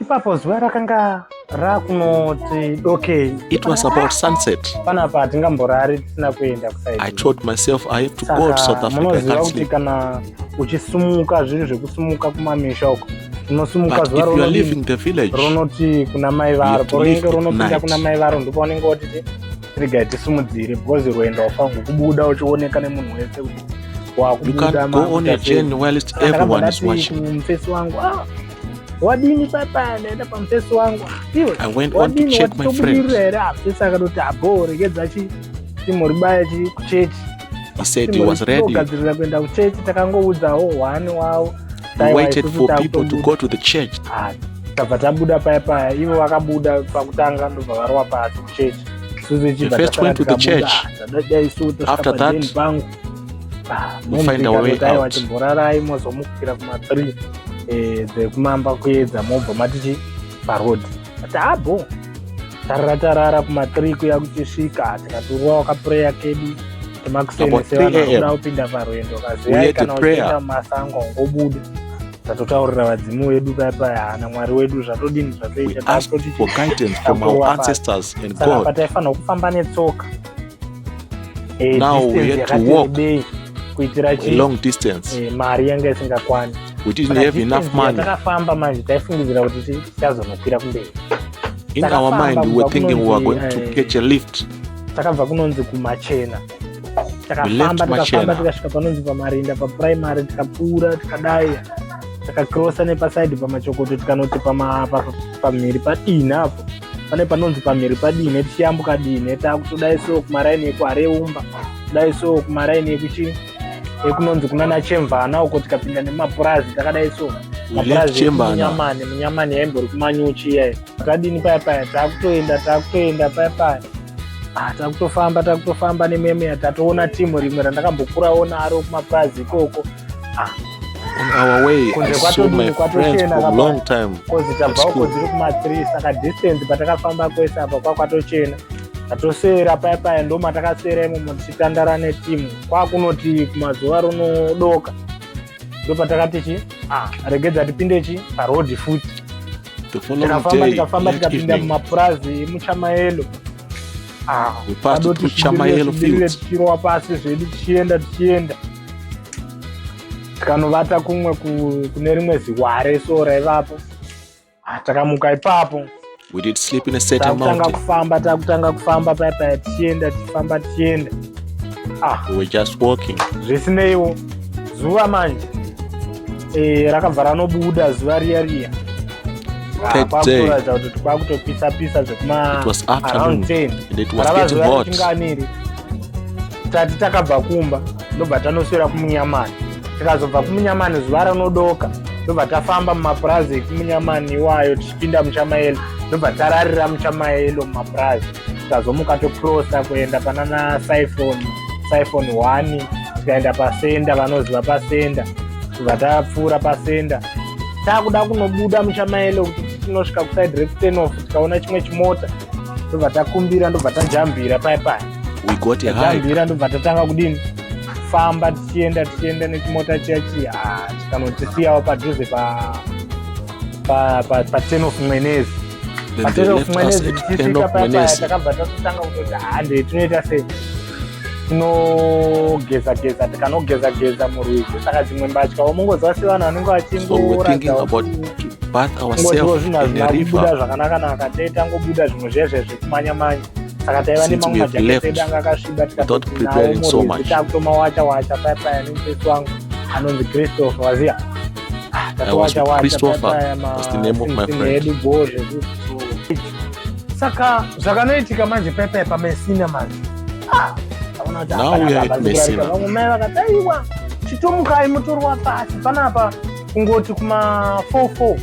ipapo zuva rakanga rakunoti dokei it was about sunset panapa hatingamborari tisina kuenda kusaidi i told myself i have to go to south africa munoziva kuti kana uchisumuka zviri zvekusumuka kumamisha uko unosumuka zuva ronoti kuna mai varo paunenge ronopinda kuna mai varo ndipo unenge wotiti regai tisumudzire because rwendo wafangu kubuda uchioneka nemunhu wese kuti wakubuda mufesi wangu ah, wadini papa ndaenda pamusesi wangu iwe wadini watitobudirira here apsesi akatoti abho regedza chi timuribaya chi kuchechi gadzirira kuenda kuchechi takangoudzawo one wavo tabva tabuda paya paya ivo vakabuda pakutanga ndobva varova pasi kuchechi suzichibva taaa isu taapangu mumborarai mozomukira kuma three eh, dzekumamba kuedza mobva matichi paroad ati abo tarara tarara kuma three kuya kuchisvika tikaturwa wakapureya kedu temakuseni sevanoda kupinda parwendo kaziyai kana uchienda mumasango ngobuda zvatotaurira vadzimu vedu paya paya hana mwari wedu zvatodini zvatoita pataifanira kufamba netsoka Eh, Now distance we had to yakati walk. rebei kuitira a chii long distance Eh, mari yanga isingakwani we didn't Saka have enough distance money yatakafamba manje taifungidzira kuti ti- tichazonokwira kumberi in our takafamba mind we were kubva thinking we were going kunonzi, to eh, catch a lift takabva kunonzi kumachena We left takafamba Machena. tikafamba tikasvika panonzi pamarinda papuraimary tikapfuura tikadai takakrosa nepaside pamachokoto tikanoti pama- pa- pamhiri padina apo pane panonzi pamhiri padine tichiyambuka dine takutodai so kumaraini ekuhareumba kudai so kumaraini ekuchi ekunonzi kunana chemvana uko tikapinda nemapurazi takadai so mapurazi munyamani munyamani yaimbori kumanyuchi iyayo takadini paya paya takutoenda takutoenda paya paya ah, takutofamba takutofamba nememeya tatoona timu rimwe randakambokurawo naro kumapurazi ikoko ah. on our way kunze kwatodini kwatochena long time kozi tabva uko dziri kuma 3 saka distance patakafamba kwese apa kwakwatochena tatosera paya paya ndo matakasera imomo tichitandara netimu kwakunoti kumazuva runodoka ndo patakati chi ah. regedza tipinde chi parodi futi tikafamba tikafamba tikapinda mumapurazi emuchamaelo ah, adotichirowa pasi zvedu tichienda tichienda tikanovata kumwe kune rimwe ziware so raivapo ah, takamuka ipapo takutanga kufamba takutanga kufamba paya paya tichienda tichifamba tichienda ah. zvisineiwo zuva manje eh, rakabva ranobuda zuva riya riya kwakutoratidza kuti kwakutopisa pisa zvekuma around 10 rava zuva richinganiri tati takabva kumba ndobva tanoswera kumunyamani tikazobva kumunyamani zuva ranodoka ndobva tafamba mumapurazi ekumunyamani iwayo tichipinda muchamaelo ndobva tararira muchamaelo mumapurazi tikazomuka tokrosa kuenda panana siphon siphon one tikaenda pasenda vanoziva pasenda tobva tapfuura pasenda taakuda kunobuda muchamaelo kuti tinosvika kuside rekutenof tikaona chimwe chimota ndobva takumbira ndobva tajambira paya paya we got a hike tajambira ndobva tatanga kudini famba tichienda tichienda nechimota chiya chiya Ah, chikanotisiyawo padhuze pa pa pa pa ten of mwenezi then they left us at end of Wednesday takabva tatotanga kutoti hande tinoita sei tinogeza geza tikanogeza geza murwizi saka dzimwe mbatya womungoziva sevanhu vanenge vachingoratsaozivo zvinhu hazvina kubuda zvakanaka naka taitangobuda zvimwe zviya zviya zvekumanya manya saka taiva nemamwe majaketi edu anga akasviba tikatoinawo murwizi takutoma wacha wacha paya paya nemutesi wangu anonzi christopher waziva ah, tatowacha wacha paya paya maedu bho zvekuti saka zvakanoitika manje pepe pamesina manje ah, vamwe mai vakati aiwa chitomukai mutorwa pasi panapa kungoti kuma 44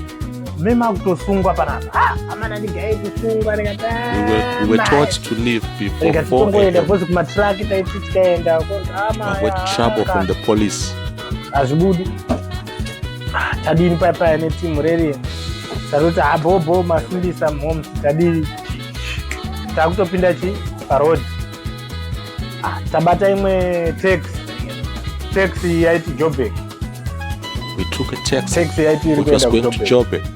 memakutosungwa panapa ah, amana ndigaye kusungwa ndikatitongoenda ah, bcause kumatraki taiti tikaenda hazvibudi ah, tadini paya paya netimu rerien tatoti habhobho ah, mafundisa mhoms tadii takutopinda chi parod ah, tabata imwe tax tax yaiti jobek we took a tax tax yaiti iri kuenda kujobek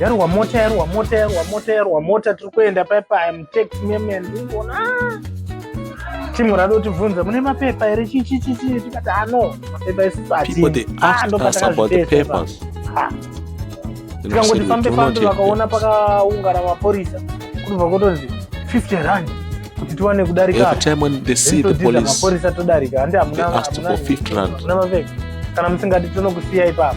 yarohwa mota yarohwa mota yarohwa mota yarohwa mota tiri kuenda paipa im tax memen ndingoona ah! timu rada kutibvunza mune mapepa here chichichichi tikati ano ah, mapepa esusu hatindokatakazvitesa ah, tikangoti fambe fambe vakaona pakaungana mapurisa kunobva kotonzi 50 rand kuti tiwane kudarikaaporisa todarika handi hamuna mapeka kana musingati tonokusiya ipapo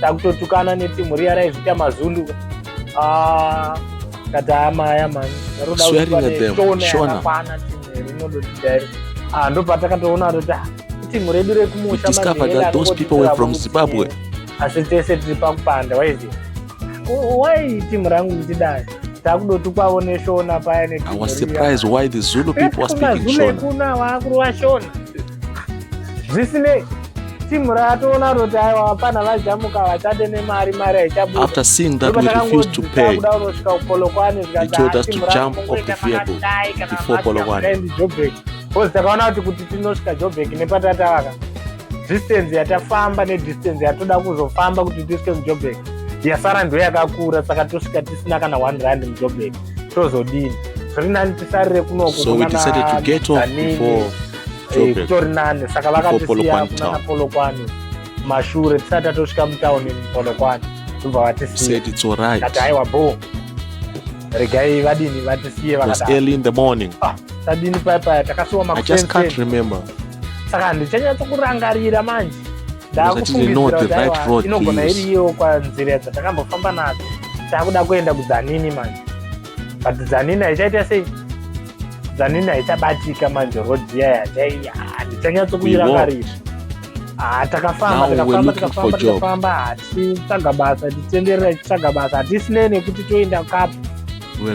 takutotukana netimu riya raizvita mazundu ah, katama aya mani rodaaaakwana timu rinodotidari ah, ndopatakatoona kuti ah, timu redu rekumusha asi tese tiri pakupanda waiziva why team rangu kutidai takudotukwavo neshona paya nekuno vakurova shona zvisinei timu rakatoona roti aiwa vapana vajamuka vachate nemari mari haichabudaafter seeing that we refused to pay kuda unosvika kupolokwane zvikazvikamupokwane bcause takaona kuti kuti tinosvika jobek nepatatavaka distance yatafamba nedistance yatoda kuzofamba kuti tisvike mujobek yasara ndo yakakura saka tosvika tisina kana one rand mujobek tozodini zviri nani tisarire kunokuso we decided to get off before eh, kutori nani saka vakatisiya kunana polokwani mashure tisati tatosvika mutauni polokwani tobva vatisiya kati haiwa boo regai vadini vatisiye vakatadini paya paya takasiwa makusenseaka handichanyatso kurangarira manje ndakufungiirainogona iri iyewo kwanzira dzatakambofamba nadzo takuda kuenda kudzanini manje but dzanini haichaita sei zanini haichabatika manje road iya yatai handichanyatsokuira kari ah, takafamba takafamba takafamba takafamba hatitsvaga basa titenderera titsvaga basa hatisine nekuti toenda kapo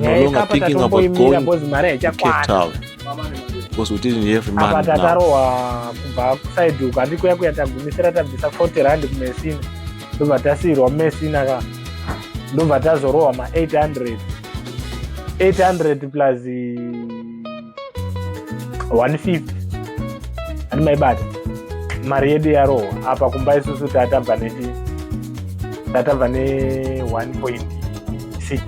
yaikapatatongomira bhozi mari haichakwana because we didn't have money apa tatarohwa kubva kuside uku handikuya kuya tagumisira tabvisa 40 rand kumesina ndobva tasiirwa mumesina ka ndobva tazorohwa ma 800 800 plus 150 ani maibata mari yedu yarohwa apa kumba isusu tatabva nechi tatabva ne 1.6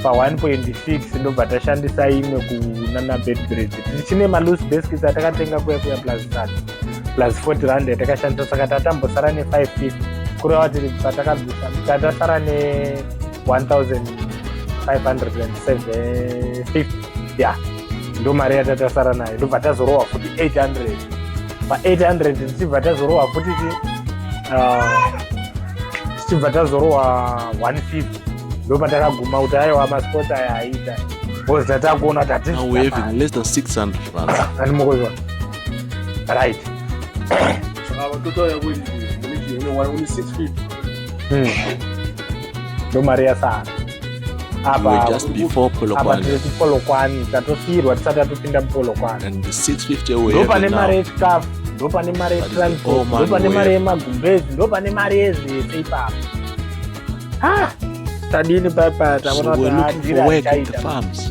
pa 1.6 ndobva tashandisa imwe kunana bedbred tichine malus baskets atakatenga kuya kuya plus sati plus 40 rand yatakashandisa saka tatambosara ne550 kureva kuti patakabvisa tatasara ne1550 ya ndo mari yatatasara nayo ndobva tazorohwa futi 800 pa800 tichibva tazorohwa futi tichibva uh, tazorohwa 150 ndo patakaguma kuti aiwa masport aya aita bcause tatakuona kuti hatizvaamukozwa right hmm. ndo mari yasara apapolokwani tatosiyirwa tisati tatopinda mupolokwaniopane mari yechikafu ndopane mari yetransport ndopane mari yemagumbezi ndopane mari yezvese ipapo ah! tadini papa tavona kuti adira achaita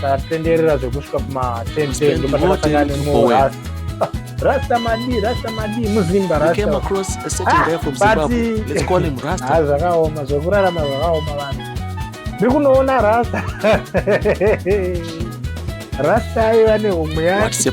tatenderera zvekusvika kuma 10 ndopatakasangana nemuras rasta madi rasta madi muzimba zvakaoma zvekurarama zvakaoma vanhu ndiri kunoona rasta rasta aiva nehomwe yacho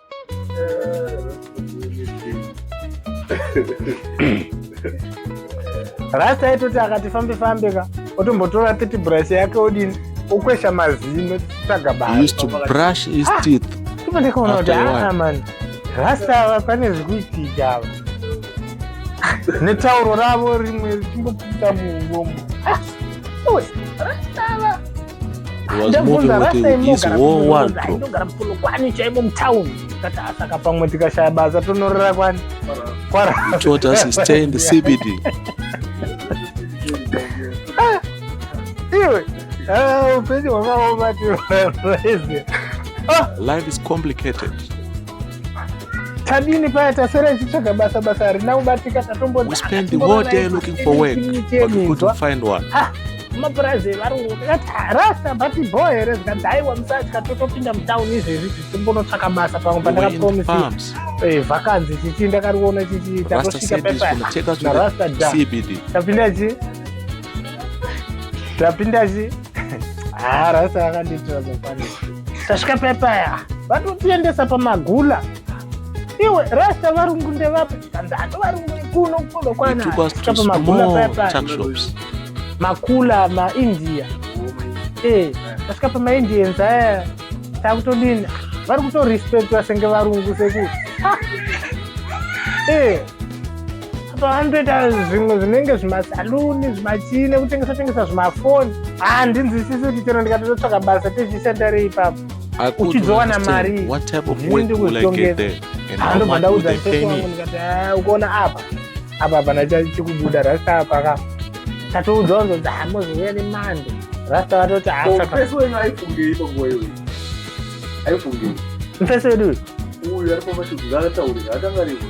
rasta aitoti akati fambe fambe ka otombotora titi brush yake odini okwesha mazino tsvaga baandikaona kuti aa mani rasta ava pane zvikuitika ava netauro ravo rimwe richimbopfuta muuromo ndobvunza rasei mogara ndogara mutono kwani chaimo mutown kati asaka pamwe tikashaya basa tonorora kwani kwarascbd ah, iwe ah, upenyu hwakaoma tiaive ah! life is complicated tadini paya tasera ichitsvaga basa basa harina kubatika tatomboamapurazi evarungu rasta bati bho here zikadaiwa musatya totopinda mutown izvezvi tichimbonotsvaka basa pamwe pandakapromisa eh, vakanzi chichi ndakariona chichi takosvika pepaarasta da tapinda chi tapinda chi Ah, rasa akandiitira zvafanira tasvika pepaya vatotiendesa pamagula iwe rasta varungu ndevapi ndando varungu kuno kuno kwana It took us to pamagula small pepaya tuck shops. makula maindia eh tasvika pamaindians aya takutodini vari kutorespectwa senge varungu sekuti eh apa vanotoita zvimwe zvinenge zvimasaluni zvimachine kutengesa tengesa zvimafoni handinzwisisi kuti chero ndikatototsvaka basa tezvishanda rei ipapo uchizowana mari ndikuzvitongezandobva ndaudza sewangu ndikati ah, ukaona apa apa hapana chikubuda rasta apa ka tatoudzwa kunzonzi hamozouya ah, nemando rasta vatoti hasapeso wenyu aifungei panguva iyoyi aifungei mfeso wedu uyu ari pamashudzi ngaataurira akangariko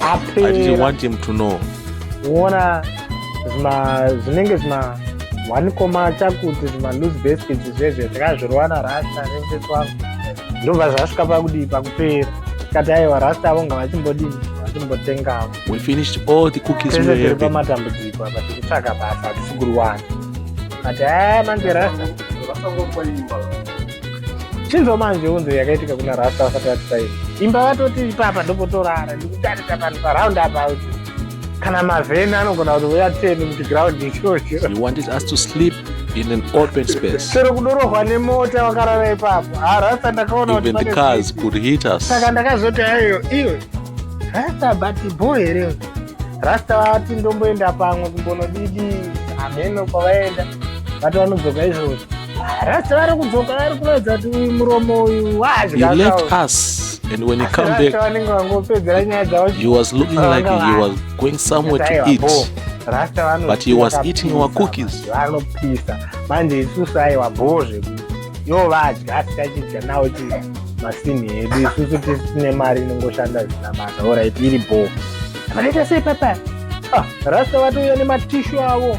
apera i didn't want him to know wona zvima zvinenge zvima one koma chakuti zvima loose baskets zvezve zvakazvirwana rasta nemfesi wangu ndobva zvasvika pakudii pakupera kati aiwa rasta avo ngavachimbodini vachimbotengawo we finished all the cookies we have pamatambudziko apa tikutsvaka basa tisigurwana kati haa manje rasta chinzwa manje unzo yakaitika kuna rasta vasati vatisaini imba vatoti ipapa ndopotorara ndikutarisa panhu paraundi apa kuti kana mavheni anogona kuti uya teni kuti graundi ichocho in an open space. Chero kudorohwa nemota wakarara ipapo. Ah, rasta ndakaona kuti even the cars could hit us. Saka ndakazoti ayo iwe rasta but boy here. Rasta vati ndomboenda pamwe kumbonodidi hameno kwavaenda. vati vanodzoka izvozvo rasta vari kudzoka vari kuratidza kuti uyu muromo uyu waazvivanenge vangopedzera nyaya dzavo rasta vanopisa manje isusu aiwa bhoo zvekuti yo vadya asitachidya nawo ti masini edu isusu tisine mari inongoshanda zvisina basa orit iri bhoo vanoita sei papa ah, rasta vatouya nematishu avo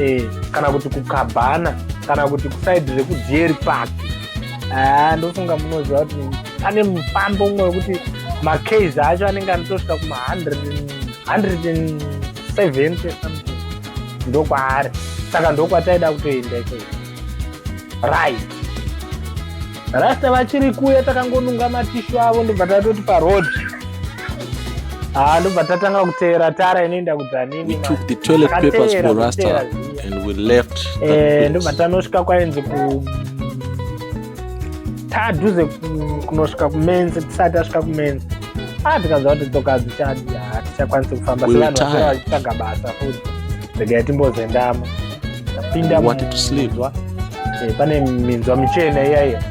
eh, kana kuti kukabhana kana kuti kusaidi rekudieri park ah, ndofunga munoziva kuti pane mufambo umwe wekuti macas acho anenge anotosvika kuma 170 something ndokwaari saka ndokwataida kutoenda ikoi right rasta vachiri kuya takangonunga matishu avo ndobva tatoti paroad haa ah, ndobva tatanga kuteera tara inoenda kudzaninindakuteerazviyae ndobva tanosvika kwainzi ku tadhuze kunosvika kumenzi tisati tasvika kumenzi a ah, tikanzwa kuti dzoka dzichadi hatichakwanisi kufamba sevanhu vachitsvaga basa futi regai timbozendama tapinda eh, pane minzwa michena iyaiya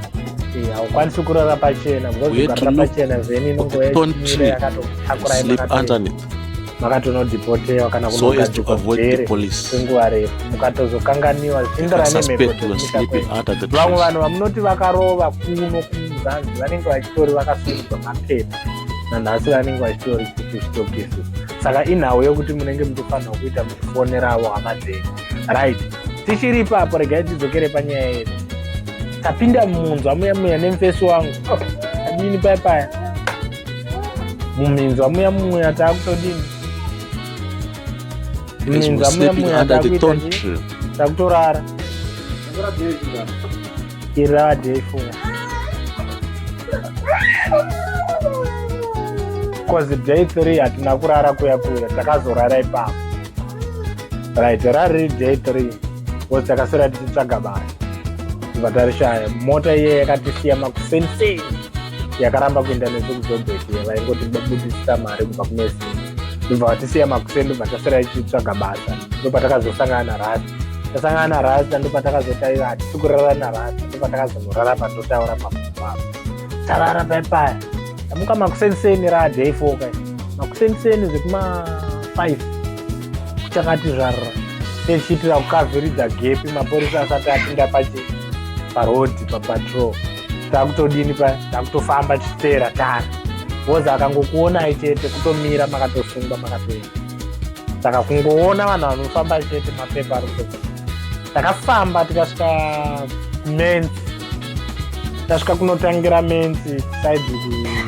eh, haukwanisi kurara pachena bcausearara pachena zeni inongoyamakatonodhipotewa kana kunogadzikwaenguva refu mukatozokanganiwa zvindira nemhepovamwe vanhu vamunoti vakarova kuno kumuzanzi vanenge vachitori vakasungwa mapepa nanhasi vanenge vachitori kuistokisi saka inhau yekuti munenge muchifanirwa kuita muchifoneravo hama dzenyu right tichiri ipapo regai tidzokere panyaya yedu tapinda mumunzwa muya muya nemufesi wangu oh, adini paya paya muminzwa muya muya taakutodini muminzwa muya muya takutorara iradi yaifuna bcause day three hatina kurara kuya kuya takazorara ipapo right rariri day three bcause takasira tichitsvaga basa tibva tarishaya mota iye yakatisiya makuseni sei yakaramba kuenda nesu kuzobheti vaingoti babudisisa mari kubva kunesini ndobva vatisiya makuseni ndobva tasira tichitsvaga basa ndopatakazosangana naradi tasangana na rasta ndopatakazotaira hatisi kurara na rasta ndopatakazonorara pandotaura pamuvaa tarara paipaya tamuka makuseniseni ra day four kai makuseniseni zvekuma five kuchakati zvarira techiitira kukavhiridza gepi mapurisa asati apinda pachi parhodhi papatrol takutodini pa takutofamba tichiteera tara wozi akangokuonai chete kutomira makatosungwa makatoenda saka kungoona vanhu vanofamba chete mapepa ari kuto takafamba tikasvika kumens tasvika kunotangira mens saidi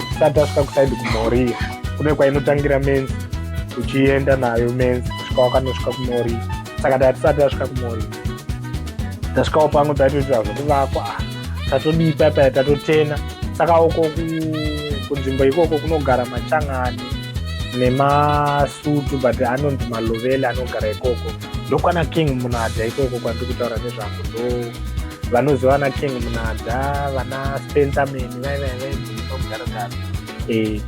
tisati tasvika kusaidi kumoriya kune kwainotangira mens uchienda nayo mens kusvika wakanosvika kumoriya saka tatisati tasvika kumoriya tasvikawo pamwe taitoitira zvokuvakwa ah, tatodipa paya tatotena saka uko kunzvimbo ikoko kunogara machangani nemasutu but anonzi maloveli anogara ikoko ndokwana king munada ikoko kwandiri kutaura nezvako ndo vanoziva vana king munada vana spencerman vaivaivaimudaragara eh,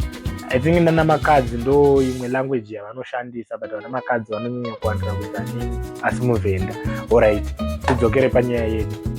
i think nana makadzi ndo imwe language yavanoshandisa but vana makadzi vanonyanya kuwandira kuzaningi asi muvhenda orit tidzokere panyaya yedu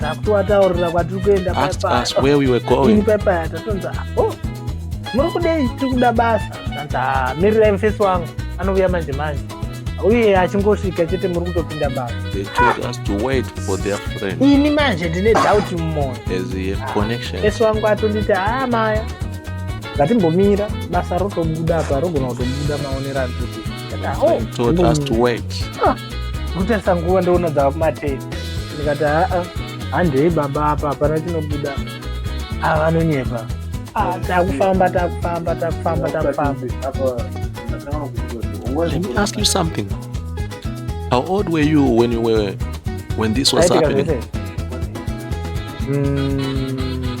takutoataurira kwatiri kuenda ini paipaya tatonzi o muri kudei tiri kuda basa anzi ah, mirirai mufesi wangu anouya manje manje uye achingosvika chete muri kutopinda basa ini manje ndine doubt mumoyo mufesi wangu atonditi haa ah, maya ngatimbomira basa rotobuda apa rogona kutobuda maonerani kuti kutarisa nguva ndoona dzavakumatei ndikati haa handei baba apa hapana chinobuda ava vanonyepa ah, takufamba takufamba takufamba takufamba Let me ask you something. How old were you when you were when this was happening? Mm,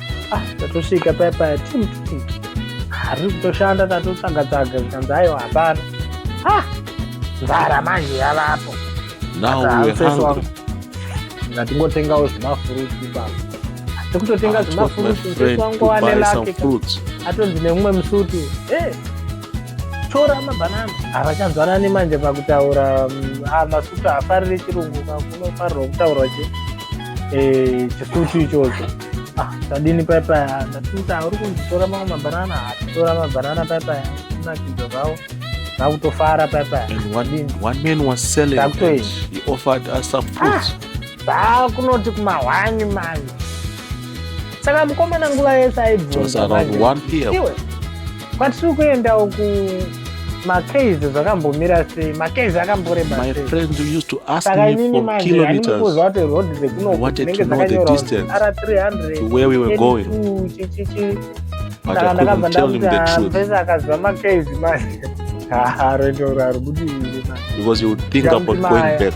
ah tatosvika paya paya tim tim hari kutoshanda tatotsvaga tsaga zvikanzi aiwa hapana ah nzara manje yavapo ngatingotengawo zvimafuruti baba tikutotenga ah, zvimafuruti mswangu wane lake atonzi nemumwe musuti e eh, tora mabanana havachanzwanani manje pakutaura mm, ah, masutu hafarire chirungu kakunofarirwa kutaurwa che eh, chisutu ichocho Ah, tadini pai pai ndatimuti auri kunditora mamwe mabanana atitora mabanana pai pai kunakidza zvavo vakutofara pai pai and one, one man was selling and he offered us some fruits ah, kunoti kumahwani mani saka mukomana nguva yese aibvunza 1 pm kwatiri kuendawo ku makeys zvakambomira sei makeys akamboreba my friend used to ask me for kilometers what to know the distance to where we were going but i couldn't tell him the truth because you would think about going back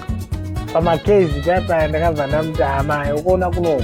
pamakeys paya paya ndakabva ndamuti amai ukuona kunoku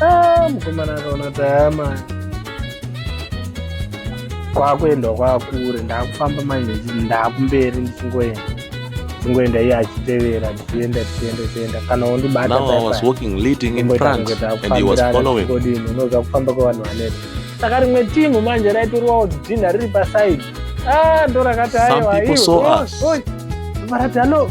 Ah, mukomana akaona tayama kwakuenda kwakure ndakufamba manje ndakumberi ndichingoenda ndichingoenda iye achitevera ndichienda tichienda tienda kana wondibataodini unoza kufamba kwevanhu vaneta saka rimwe timu manje raitorwawo dhinha riri pasaidi ah, ndorakati aiwa varati halo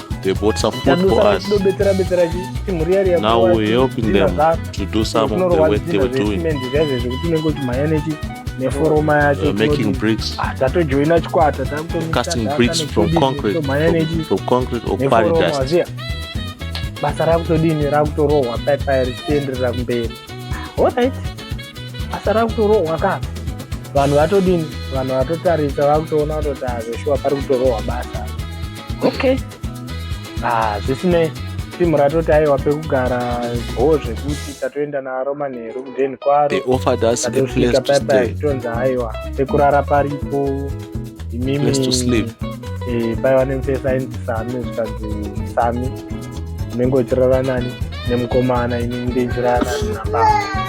they bought some food for us. Now we're helping them to do some of the work they were doing. Uh, making bricks, ah, casting bricks from concrete, from, from concrete or quarry dust. basa rakutodini rakutorohwa paipai richienderera kumberi orit basa rakutorohwa ka vanhu vatodini vanhu vatotarisa vakutoona kutoti hazveshuwa ah, pari kutorohwa basa okay ah zvisinei timu ratoti aiwa pekugara bhoo zvekuti tatoenda naro manheru kudeni kwaroatosvika paipa zvitonzi aiwa pekurara paripo imimi eh, paiva nemufesi ainzi sami zvikanzi sami unenge uchirara nani nemukomana ini ndinjirara nani nababa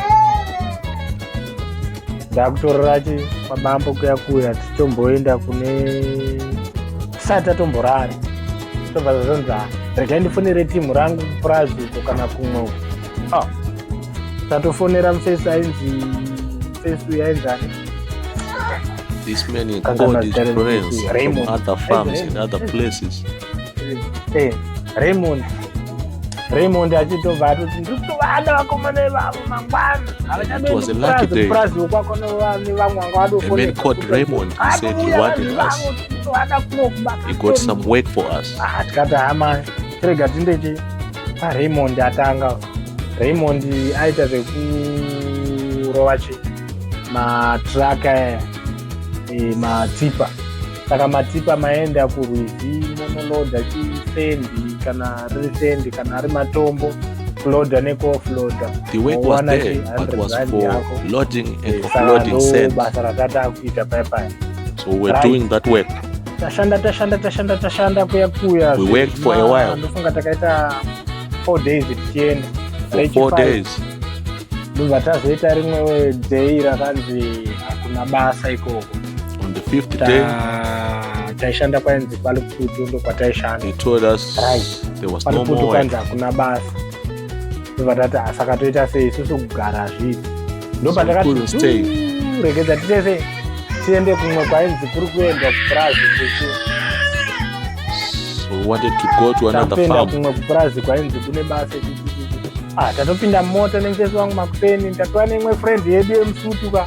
ndakutorora chi kwabambo kuya kuya tichomboenda kune tisati tatomborara tobva zvazonzi ah, regai ndifonere timu rangu kupurazi uko kana kumwe uko ah, tatofonera mufesi ainzi mufesi uyu ainzani This man is called his friends from other farms in other places. Hey, eh, Raymond. Raymond achitobva atoti ndiri kutovada vakomana ivavo mangwana havachadopurazi wokwako nevamwe vanga vadokutovada kunokubatikati hama tirega tindeche paraymond atanga raymond aita zvekurova chi matraka eh, matipa saka matipa maenda kurwizi monoloda chisendi kana riri sendi kana ari matombo kuloda nekuoffloada the work was there but was for loading and eh, offloading sand basa ratata kuita paya paya so we're right. doing that work tashanda tashanda tashanda tashanda kuya kuya we worked for a while ndofunga takaita four days tichienda for four days ndobva tazoita rimwe day rakanzi hakuna basa ikoko on the fifth Ta- day taishanda kwainzi paluputu ndo kwataishanda he told us Right. there was no paluputu more work. kwainzi hakuna basa ndovatati asaka toita sei isusu kugara zvipi So we couldn't stay. ndopatakati regedza titese tiende kumwe kwainzi kuri kuendwa kupurazi kuchi So we wanted to go to another tapenda farm. kumwe kupurazi kwainzi kune basa chi- chi- chi- chi. ah tatopinda mota nemutesi wangu makupeni tatova neimwe friend yedu yemusutu ka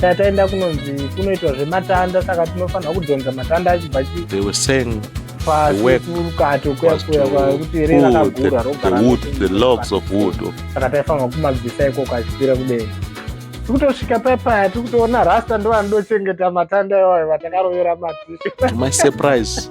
saka taenda kunonzi kunoitwa zvematanda saka tinofanira kudhonza matanda achibva parukato kuyakuyakuyakutiakati aifanirwa kumabvisa ikoko achikwira kudenga tikutosvika pepaya tikutoona rasta ndovanodochengeta matanda iwayo vatakarovera matimasurprise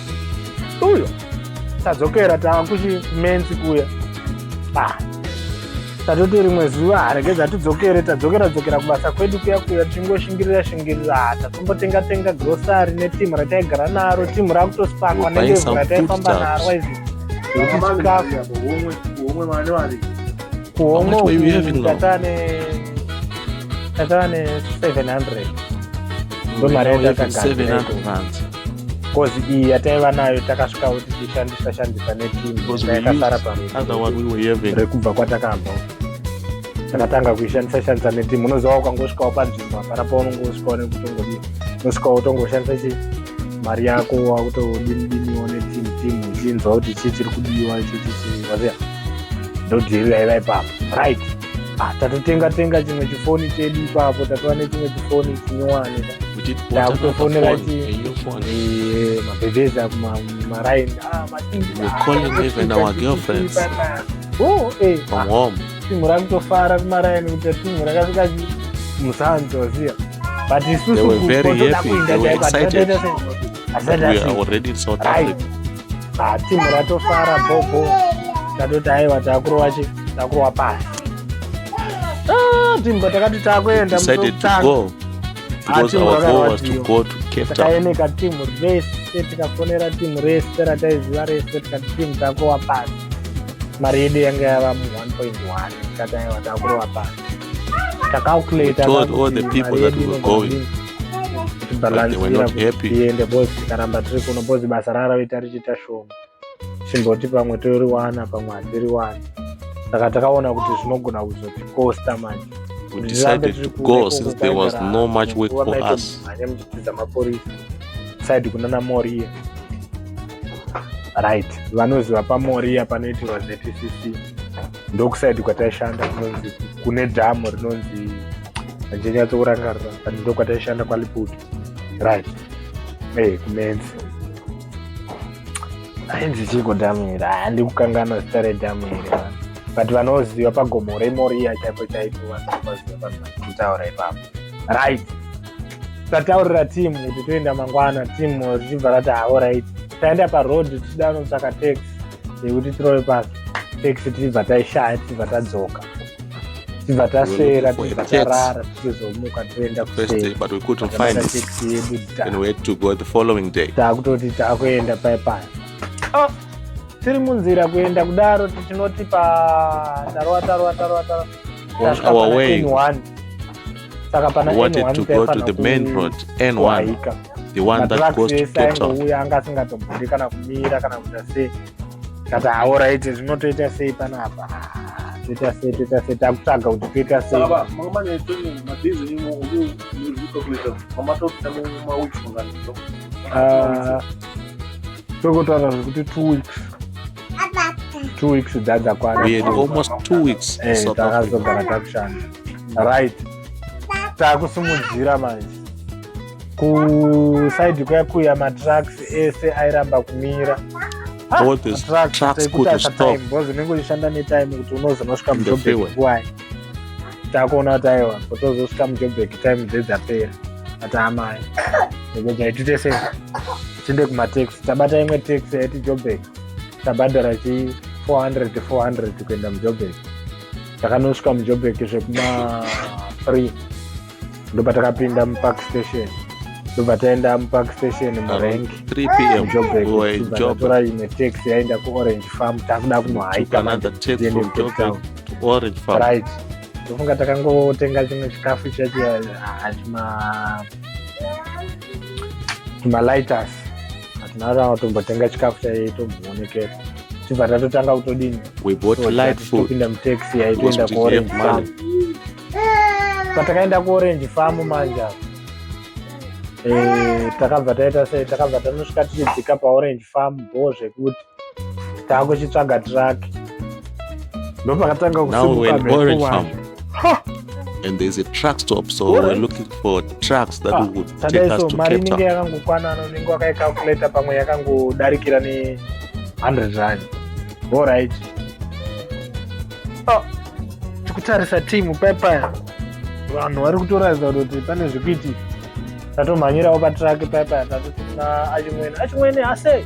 uyo tadzokera tava kuchimenzi kuya ah, tatoti rimwe zuva harege dzatidzokere tadzokera dzokera kubasa kwedu kuya kuya tichingoshingirira shingirira ah, tatombotenga tenga grosari netimu rataigara naro timu rakutosakwa nendevu rataifamba naro waizi kuhomwe tatane tatane 700 ndomari yatatakagadzira kozi iyi yataiva nayo takasvika kuti tishandisa shandisa netimuyakasara parekubva kwatakabva takatanga kuishandisa shandisa netimu unoziva ukangosvikawo panzvimbo hapana paunonge usvikawo nekutongodi unosvikawo utongoshandisa chi mari yako wakutodinidiniwo netimu timu uchinzwa kuti chii chiri kudiwa chichichiwaziva ndodhiri yaiva ipapo right Ah, tatotenga tenga chimwe chifoni chedu ipapo tatova nechimwe chifoni chinyowani takutofonera eh, mabhebhezi akumaraini ah, timhu rakutofara kumaraini kuti timhu rakasvika musanzi waziva but isusu kuenda chaiko but we are already in south africa ah, timu ratofara bobo tatoti aiwa takurova chi takurova pasi ah, timu patakati takuenda mutotanga takaeneka timu rese tikafonera timu rese rataiziva rese tikati timu takurova pasi mari yedu yanga yava mu 1.1 tikataiwa takurova pasi tacalculator all the people that were going tiende bos tikaramba tiri kuno bos basa raravaita richiita shoma chimboti pamwe toriwana pamwe hatiriwani saka takaona kuti zvinogona kuzotikosta manje we decided to go since there was no much work for us side kunana moria right vanoziva pamoria panoitirwa zcc ndokusaidi kwataishanda kunonzi kune dhamu rinonzi handichanyatsokurangarira but ndokwataishanda kwaliput right e kumenzi ainzi chiko dhamu here handi kukanganwa zita redhamu here but vanoziva pagomo remoriya chaipo chaipo vanoziva vanhu vakutaura ipapo right tataurira timu kuti toenda mangwana timu richibva rati haorit taenda paroad tichida kunotsvaka tax yekuti tirove pasi tax tichibva taishaya tichibva tadzoka tichibva taswera tichibva tarara tichizomuka toenda kuseedutaakutooti taakuenda paye paye oh, tiri munzira kuenda kudaro tichinoti pa tarova tarova tarova tarova saka pana wanted to go to the main road n1 the one that goes to ketouya anga asingatombori kana kumira kana kuita sei kati haoraite zvinotoita sei panapa toita sei toita sei takutsvaga kuti toita sei tokotaura zvekuti two weeks two weeks dzadza kwanealmost two weeks eh, takazogara takushanda right takusimudzira manje kusaidi kuya kuya matrucks ese airamba kumira zvinenge uchishanda netime kuti unozonosvika mujobek nguwai takuona kuti aiwa kutozosvika mujobek time dzedzapera ati amai nekuti aitite sei tinde kumataxi tabata imwe taxi yaiti jobek tabhadhara chi 400 400 kuenda mujobek takanosvika mujobek zvekuma 3 ndobva takapinda mupark station ndobva taenda mupark station murank 3 pm jobek tora imwe taxi yaenda kuorange farm takuda kunohaita orange farm right ndofunga takangotenga chimwe chikafu chacho hachima tumalighters hatinarava tombotenga chikafu chaiye tomboonekera tibva tatotanga kutodini topinda mutaxi yaitoenda kuorange farm patakaenda kuorange farm manje eh, takabva taita sei takabva tanosvika tichidzika paorange farm bho zvekuti taakuchitsvaga truck ndopakatanga kusimuka mhepo and there's a truck stop so right. we're looking for trucks that ah, would take us to mari inenge yakangokwana unenge wakaicalculata pamwe yakangodarikira ne 100 rand all right ah, tikutarisa timu payapaya vanhu vari kutoratidza kuti pane zvekuiti tatomhanyirawo patraki payapaya tatotina achimwene achimwene ase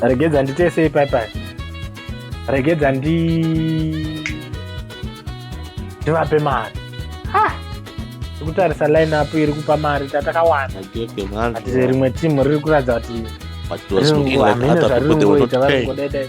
regedza nditese ipaipai regedza ndi ndivape mari tikutarisa line up iri kupa mari tatakawana rimwe timu riri kuratidza kuti hamene zvaririkuita varingodaidai